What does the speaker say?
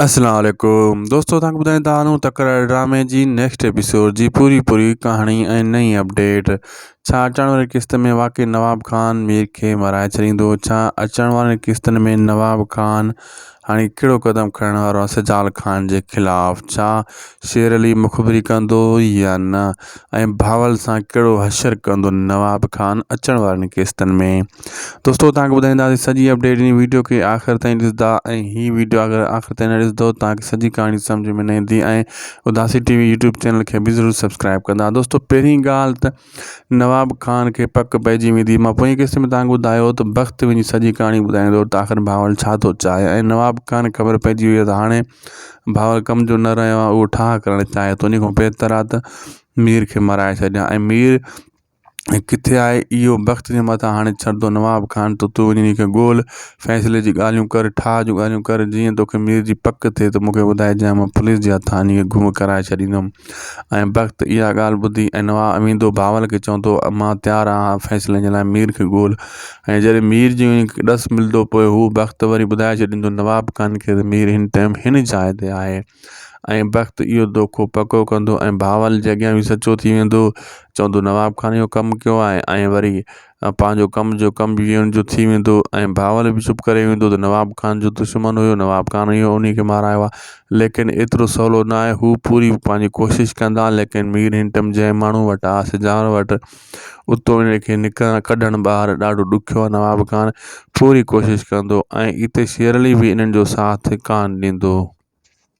السلام عليڪم دوستو تان ٻڌائين ته آنو تڪرار ڊرامي جي نيڪسٽ ايپيسوڊ جي پوري پوري ڪهاڻي ۽ نئين اپڊيٽ ڇا اچڻ واري قسط ۾ واقعي نواب خان مير کي مرائي ڇڏيندو ڇا اچڻ وارن قسطن ۾ نواب خان هاڻي ڪهڙو قدم کڻڻ وارو آهي سجال خان جي خلاف ڇا شير علي مخبري ڪندو يا نه ۽ بهاول سان ڪهڙو حشر ڪندو نواب خان اچڻ وارن قسطن ۾ دوستو تان کي ٻڌائيندا سي سڄي اپڊيٽ ان ويڊيو کي آخر تائين ڏسدا ۽ هي ويڊيو اگر آخر تائين نه ڏسدو تان کي سڄي ڪهاڻي سمجھ ۾ نه ايندي ۽ اداسي ٽي وي يوٽيوب چينل کي به ضرور سبسڪرائب ڪندا دوستو پهرين ڳالهه ته نواب خان کي پڪ پئجي ويندي مان پوئين قسط ۾ تان کي ٻڌايو ته بخت وڃي سڄي ڪهاڻي ٻڌائيندو ته آخر ڀاول ڇا ٿو چاهي ۽ نواب خان خبر پئجي ويئي ته هاڻي ڀاول ڪم جو نه رهيو آهي اهو ٺاهه ڪرڻ چاهي ٿو ان کان بهتر آهي ته مير کي مرائي ڇڏيان ۽ مير ۽ ڪٿي آهي اهو بخت جي مٿان هاڻي ڇڏندو نواب خان ته تون وڃي هن کي ڳول فيصلي جي ڳالهيون ڪر ٺاهه جون ڳالهيون ڪر جيئن توکي مير جي پڪ ٿئي ته مونکي ٻڌائجانء مان پوليس جي هٿان هن کي گم ڪرائي ڇڏيندم ۽ بخت اها ڳالهه ٻڌي ۽ نواب اميدو بهاول کي چوندو مان تيار آهيان فيصلي جي لاء مير کي ڳول ۽ جڏهن مير جي ڏس ملندو پوء هو بخت وري ٻڌائي ڇڏيندو نواب خان کي ته مير هن ٽيم هن جاء تي آهي ۽ بخت اهو دوکو پڪو ڪندو ۽ بهاول جي اڳيان به سچو ٿي ويندو چوندو نواب خان اهو ڪم ڪيو آهي ۽ وري پنهنجو ڪم جو ڪم به ان جو ٿي ويندو ۽ بهاول به چپ ڪري ويندو ته نواب خان جو دشمن هيو نواب خان اهو انهي کي مارايو آهي ليڪن ايترو سولو نه آهي هو پوري پنهنجي ڪوشش ڪندا ليڪن مير هنٽم جنهن ماڻهو وٽ آهي سجاڻ وٽ اتو ان کي نڪرڻ ڪڍڻ ٻاهر ڏاڍو ڏکيو آهي نواب خان پوري ڪوشش ڪندو ۽ اتي شيرعلي به انهن جو ساٿ ڪانه ڏيندو.